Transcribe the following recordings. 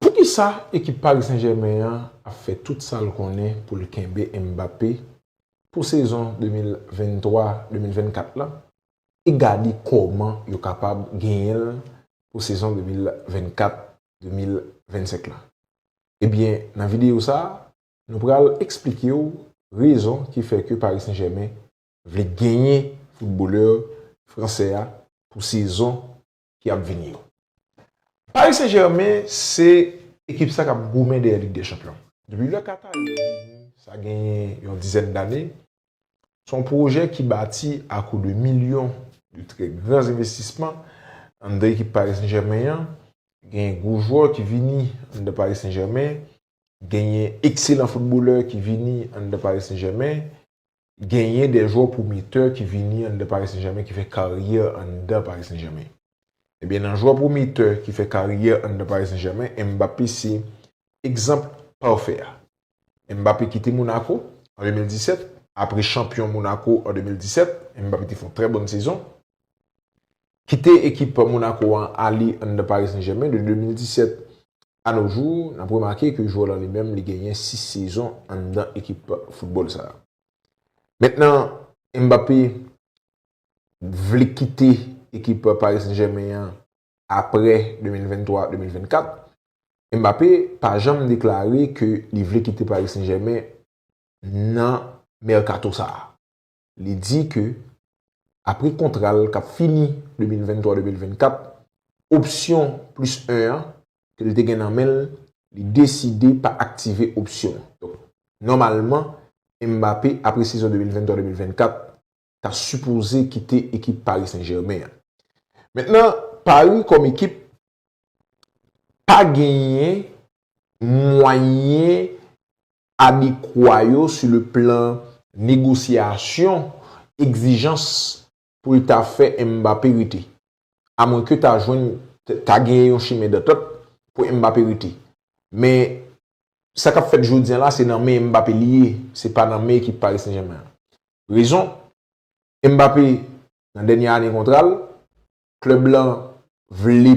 Poukisa ekip Paris Saint Germain an ap fè tout sa l konnen pou l kenbe Mbappé pou sezon 2023, 2024 lan e gade kòman yo kapab genyen l pou sezon 2024, 2025 lan? Ebyen nan videyo sa nou pral eksplike w rezon ki fè ke Paris Saint Germain vle genyen footballeur fransè a pou sezon ki ap vini yo. Paris Saint Germain se ekip sa kap goumen dèyè lig dè chanpyon. Depi lè Qatari yo vini sa genyen yon dizèn dane, se yon pwojè ki bati a kou de milyon de trè gran zenvestisman anndan ekip Paris Saint Germain an, genyen gwo jwè ki vini anndan Paris Saint Germain genyen ekselan foutbolè ki vini anndan Paris Saint Germain, genyen de jwè pwometè ki vini anndan Paris Saint Germain ki fè karyè anndan Paris Saint Germain. Ebyen nan jwè pwometè ki fè karyè anndan Paris Saint Germain, Mbappé se egzanp pafè a. Mbappé kite Monaco an 2017, apre chanpyon Monaco an 2017, Mbappé te fè yon trè bòn sezon. Kite ekip Monaco an ale anndan Paris Saint Germain de 2017 A nos jours, n ap remake ke jwè lan li menm li genyen 6 sezon anndan ekip foutbòl sa. Mentnan Mbappé vle kite ekip Paris Saint-Germain an aprè 2023, 2024. Mbappé pa janm deklare ke li vle kite Paris Saint-Germain nan mèkato sa. li di ke apre kontra l kap fini 2023-2024, opsyon plis 1 an ke l te gen nan men l, li deside pa aktive opsyon an. Donk, nòmalman, Mbappé apre sezon 2023-2024 ta sipoze kite ekip Paris Saint-Germain an. Mentnan, Paris kòm ekip pa genyen mwayen adekwa yo sou le plan negosyasyon egzijans pou l ta fè Mbappé rete. Amwenke ta jwenn ta genyen yon chimen dantant pou Mbappé rete. Men sa k ap fèt jodi an la se nan men Mbappé li ye, se pa nan men ekip Paris Saint-Germain an. Rezon, Mbappé nan dènye ane kontra l, Klèb lan vle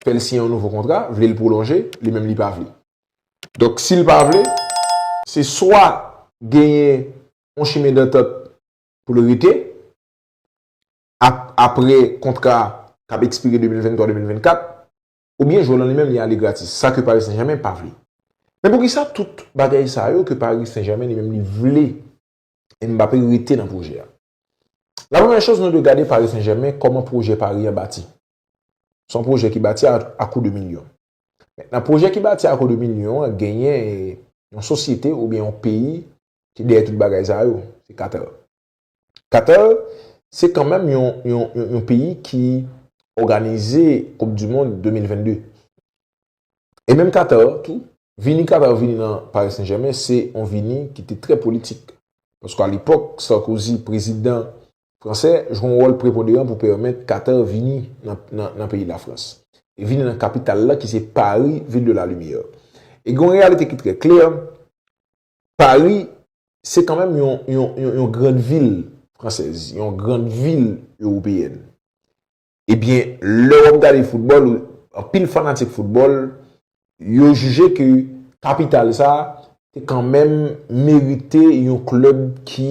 fè l siyen yon nouvo kontra, vle l pwolonje, li menm li pa vle. Donk si l pa vle, se swa genyen yon chimen dantant pou l rete apre kontra a k ap ekspire 2023-2024, oubyen jwè lan li menm li ale gratis, sa ke Paris Saint-Germain pa vle. Men poukisa tout bagay sa yo ke Paris Saint-Germain li menm li vle Mbappé rete nan pwojè a? La premyè choz nou dwe gade Pari Sen Jèmen kòman pwojè Pari an bati. Se yon pwojè ki bati a kou de milyon. Nan pwojè ki bati a kou de milyon an genyen yon sosyete oubyen yon peyi ki dèyè tout bagay sa yo, se Katèr. Katèr se kanmèm yon peyi ki òganize koup dimond 2022. E menm Qatar tou, vini Qatar vini nan Paris Saint Germain se yon vini ki te trè politik. Paske a lepòk Sarkozy prezidan fransè jwe yon wòl preponderan pou pèmèt Qatar vini nan peyi Lafrans. E vini nan kapital la ki se Paris ville de la lumière. E gen yon reyalite ki trè klè, Paris se kan menm yon grand ville fransèz, yon grand ville européenne. Ebyen, lè w ap gade foutbòl, anpil fanatik foutbòl, yo jije ke kapital sa te kanmenm merite yon klèb ki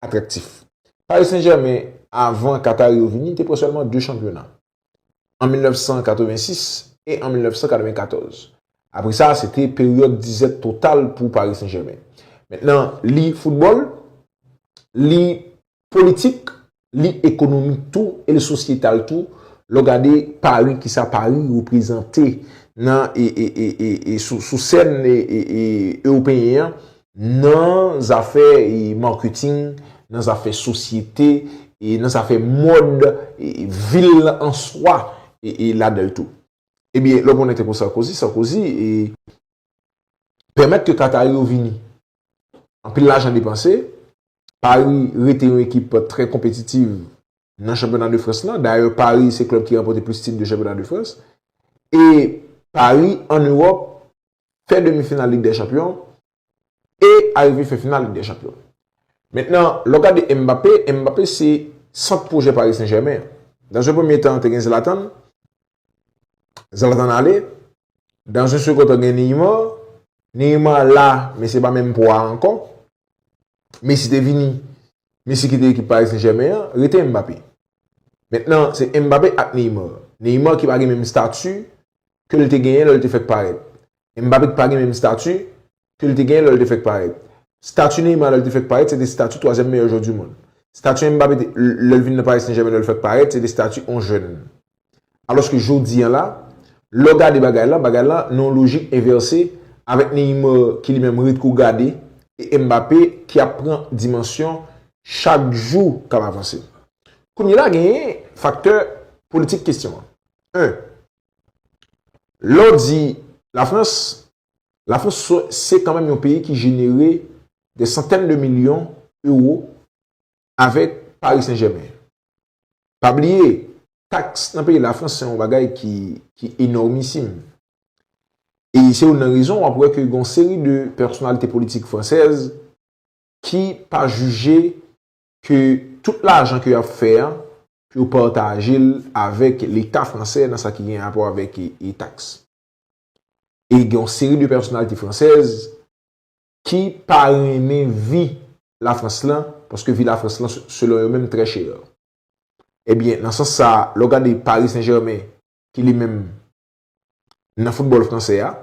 atraktif. Paris Saint-Germain, avan Katari yo vini, te pran sèlman 2 chanpyona, an 1986 e an 1994. Apre sa, se te peryòd dizèt total pou Paris Saint-Germain. Mentnan, li foutbòl, li Politik, li ekonomi tou e li sosyetal tou lè w gade Pari, ki sa Pari reprezante nan e sou sèn ewopeyen an nan zafè marketing, nan zafè sosyete, nan zafè mòd vil lan an swa e ladan l tou. Ebyen lè w konnen tankou Sarkozy, Sarkozy pèmèt ke Katari yo vini. Anpil lajan depanse Pari rete yon ekip trè konpetitiv nan chanpyona de Frans lan. Dayè Pari se klèb ki ranpòte plis tit de chanpyona de Frans. E Pari an Ewòp fè demi final lig dè chanpyon e arive fè final lig dè chanpyon. Mentnan lè w gade Mbappé, Mbappé se sant pwojè Pari Sen Jèmen an. Dans un premye tan te gen Zlatan, Zlatan ale, dan sou sou koto gen Neymar, Neymar la men se pa menm pwa a ankò. Messi te vini, Messi kite ekip Paris Saint Germain an, rete Mbappé. Mentnan se Mbappé ak Neymar. Neymar ki pa gen menm stati ke l te genyen lè l te fèk parèt. Mbappé ki pa gen menm stati ke li te genyen lè li te fèk parèt. Stati Neymar lè li te fèk parèt se te stati twazyèm meyè jwè du mond. Stati Mbappé te lè li vin nan Paris Saint Germain lè li fèk parèt se te stati on jèn. Alòs ke jodi an la, lè w gade bagay lan, bagay lan nan yon lojik envèse avèk Neymar ki li menm ret kou gade e Mbappé ki ap pran dimansyon chak jou k ap avanse. Kounye la genyen faktè politik kestyon an. 1, Lè w di la Frans La Frans se kanmenm yon peyi ki jenere dè santèn de milyon ewo avèk Paris Saint Germain. Pa bliye, taks nan peyi La Frans se yon bagay ki enòmisim. E se youn nan rezon w ap wè ke gen yon seri de pèsonalite politik fransèz ki pa jije ke tout lajan ke y ap fè an pou yo pataje l avèk leta fransè nan sa ki gen rapò avèk taks. E gen yon seri de pèsonalite fransèz ki pa renmen vi Lafrans lan, paske vi Lafrans lan selon yo menm trè chè. Ebyen, nan sans sa, lè w gade Paris Saint-Germain ki li menm nan foutbòl fransè a,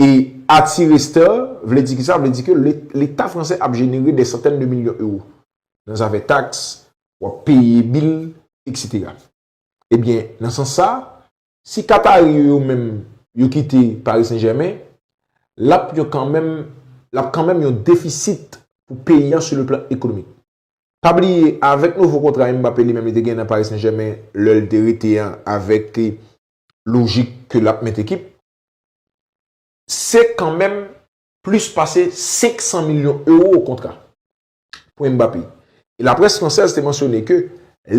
e atire stè, vle di ki sa? Vle di ke leta fransè ap jenere dè santèn de milyon ewo nan zafè taks, w ap peye bil, eksetera. Ebyen, nan sans sa, si Katari yo yo menm yo kite Paris Saint-Germain, l ap yon kanmenm, l ap kanmenm yon defisit pou peyi an sou le plan ekonomik. Pa bliye, avèk nouvo kontra Mbappé li menm li te gen nan Paris Saint-Germain lè l te rete an avèk lojik ke l ap mèt ekip, se kanmenm plis pase 500 milyon ewo kontra. Pwen Mbappé. E la près fransèz te mansyone ke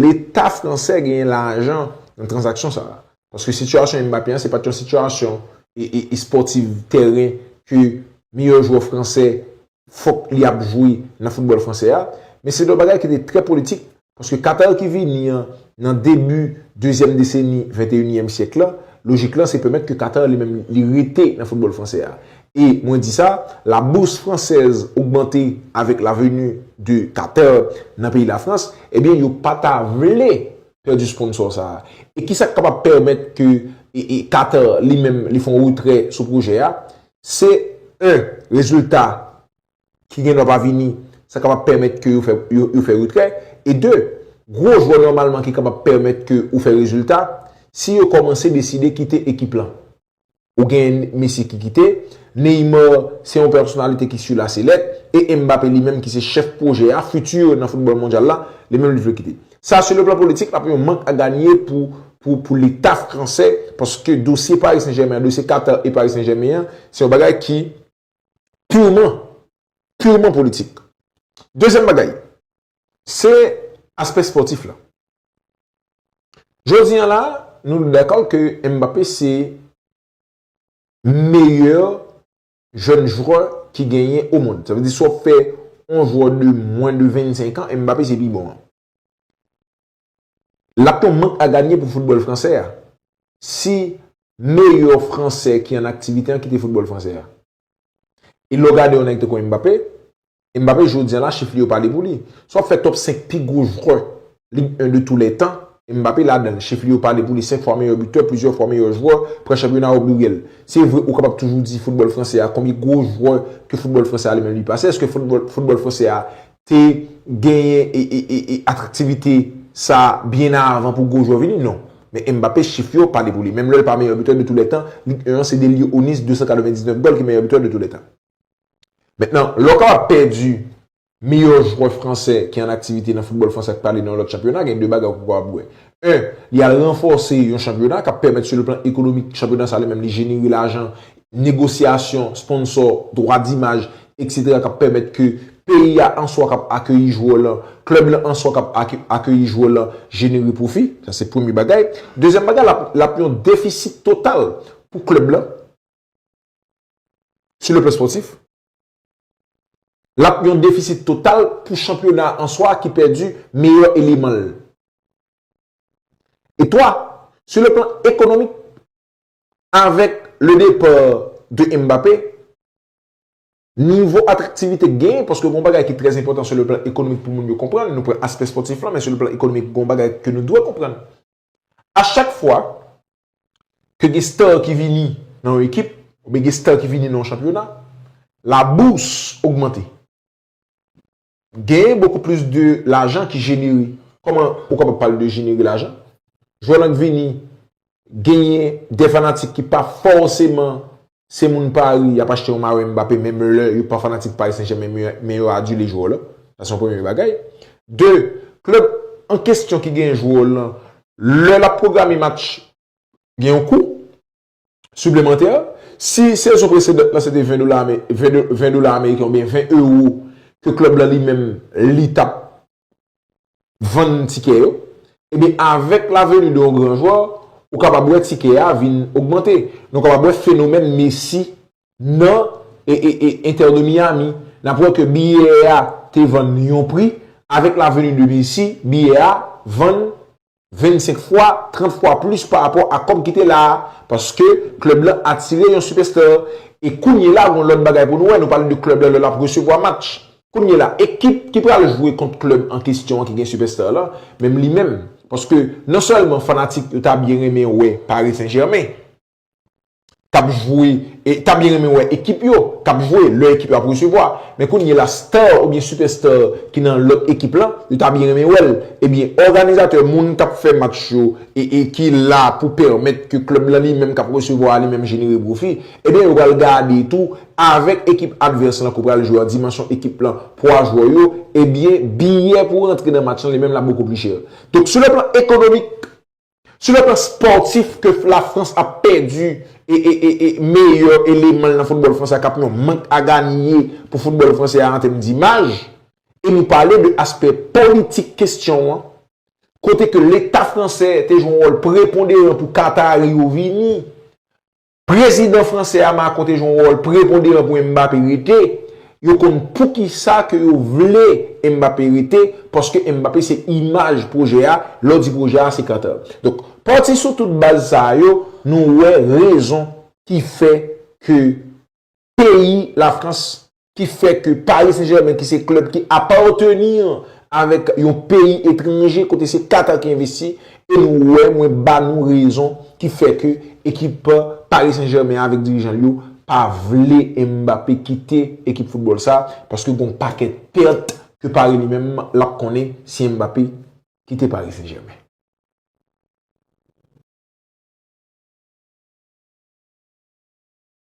leta fransè genyen lajan nan tranzaksyon sa a. Paske sitiyasyon Mbappé an se pat yon sitiyasyon espòtiv tèren ke meyè jwè fransè fòk li ap jwe nan foutbòl fransè a. Men se te yon bagay ki te trè politik Paske Qatar ki vini an nan debi dezyèm deseni venteyinyèm syèk lan, lojik lan se pèmèt ke Qatar li menm li rete nan foutbòl fransè a. E mwen di sa, la bourse française augmenter avec la venue de Qatar nan peyi Lafrans, ebyen yo pa ta vle pèdi sponsor sa a. E ki sa k kapab pèmèt ke Qatar li menm li fè yon retrè sou pwojè a? Se 1, rezilta ki gen dwa pa vini, sa kapab pèmèt ke yo fè retrè. E 2, gwo jwè nòmalman ki kapab pèmèt ke ou fè rezilta, si yo kòmanse deside kite ekip lan. Ou gen Messi ki kite, Neymar se yon pèsonalite ki su la selèt, e Mbappé li menm ki se chèf pwojè a, futur nan foutbòl mondyal la, li menm li vle kite. Sa su le plan politik ap yon mank a ganye pou leta fransè, paske dosye Paris Saint-Germain an, dosye Qatar e Paris Saint-Germain an, se yon bagay ki. purman, purman politik. Dezyèm bagay, se aspè spòtif la. Jodi an la, nou dakò ke Mbappé se meyè jèn jwè ki genyen o mond. Sa vle di si w ap fè yon jwè de mwen de 25 an, Mbappé se pi bon an. L ap yon mank aganye pou foutbòl fransè a si meyè fransè ki an aktivite an kite foutbòl fransè a. E lè w gade yon nèg tankou Mbappé, Mbappé jodi an la chif li yo pale pou li. Si w ap fè top 5 pi gwo jwè Ligue 1 de tou lè tan, Mbappé ladan l. Chif li yo pale pou li, 5 fwa meyè bitè, plizyè fwa meyè jwè, pran chanpyona yo briye l. Se vre ou kapab toujou di foutbòl fransè a konbyen gwo jwè ke foutbòl fransè a li menm li pase, èske foutbòl fransè a te genyen atraktivite sa byen avan pou gwo jwè vini? Non. Men Mbappé chif yo pale pou li. Menm lè l pa meyè bitè de tou lè tan, Ligue 1 an sede li yo Onis 299 gòl ki meyè bitè de tou lè tan. Mentnan, lè w kapab pèdi meyè jwè fransè ki an aktivite nan foutbòl fransè ak pale nan yon lòt chanpyona, gen 2 bagay ou kapab wè. 1, li al ranfòse yon chanpyona k ap pèmèt sou le plan ekonomik chanpyona sa li menm li jenere lajan negosyasyon, sponsò, dwa dimaj, eksetera k ap pèmèt ke peyi a an swa k ap akeyi jwè w lan, klèb lan an swa k ap akeyi jwè w lan jenere pwofi. Sa se premye bagay. Dezyèm bagay, l ap yon defisit total pou klèb lan sou le plan spòtif. L ap yon defisit total pou chanpyona a an swa ki pèdi meyè eleman l. E twa, sou le plan ekonomik, avèk le depar de Mbappé, nivo atraktivite k genyen, paske gon bagay ki trè enpòtan sou le plan ekonomik pou moun yo konprann, nou pran aspè spòtif lan, men sou le plan ekonomik gon bagay ke nou dwe konprann. A chak fwa ke gen star ki vini nan yon ekip, oubyen gen star ki vini nan yon chanpyona, la bourse ogmante. Genyen bokou plis de lajan ki jenere. Koman ou kapab pale de jenere lajan? Jwè lan k vini, genyen de fanatik ki pa fòseman se moun Pari, y ap achte yon mayo Mbappé menm lè yo pa fanatik Pari Senjèmen men yo adile jwè w lan. Sa se yon premye bagay. De, klèb an kesyon ki genyen jwè w lan, lè l ap pwograme match, gen yon kou. siplemantè. Si sezon presedan lan se te 20 dola ame, 20 do, 20 dola ameriken oubyen 20 ewo ke klèb lan li menm li t ap vann tikè yo, ebyen avèk la veni de yon gran jwè, ou kapab wè tikè a vin ogmante. Nou kapab wè fenomèn Messi nan e, e, e Inter de Miami. N ap wè ke biyè a te vann yon pri, avèk la veni de Messi, biyè a vann 25 fwa, 30 fwa plis pa rapò a kòb ki te la a paske klèb lan atire yon sipèsta. E kounyela gon lòt bagay pou nou wè, nou pale de klèb la lè l ap resevwa match. Kounyela ekip ki pral jwe kont klèb an kesyon an ki gen sipèsta lan, menm li menm paske non sèlman fanatik yo ta byen renmen wè Paris Saint Germain, k ap jwe, e ta byen renmen wè ekip yo k ap jwe lè ekip yo ap resevwa. Men kounyela star oubyen super star ki nan lòt ekip lan, yo ta byen renmen wè l. Ebyen òganizatè, moun k ap fè match yo e e ki la pou pèmèt ke klèb lan li menm k ap resevwa a li menm jenere pwofi, ebyen yo pral gade tou avèk ekip advès lan ke w pral jwe a, dimansyon ekip lan, pwa jwè yo, ebyen biyè pou rantre nan match lan li menm l ap bokou pli chè. Donk sou le plan ekonomik. Sou le plan spòtif ke la Frans ap pèdi meyè eleman l nan foutbòl fransè a kap yon mank a ganiye pou foutbòl fransè a an tèm dimaj e nou pale de aspè politik kestyon an kote ke leta fransè te jwe yon wòl preponderan pou Katari yo vini Prezidan fransè a Macron te jwe yon wòl preponderan pou Mbappé rete, yo konn poukisa ke yo vle Mbappé rete, paske Mbappé se imaj pwojè a, lè w di pwojè a se Carter. Donk, pati sou tout baz sa yo, nou wè rezon ki fè ke peyi Lafrans ki fè ke Paris Saint-Germain ki se klèb ki apateni avèk yon peyi etranje kote se Qatar ki envesti e nou wè mwen ba nou rezon ki fè ke ekip Paris Saint-Germain avèk dirijan l yo pa vle Mbappé kite ekip foutbòl sa paske gen yon pakèt pèt ke Paris li menm l ap konnen si Mbappé kite Paris Saint-Germain.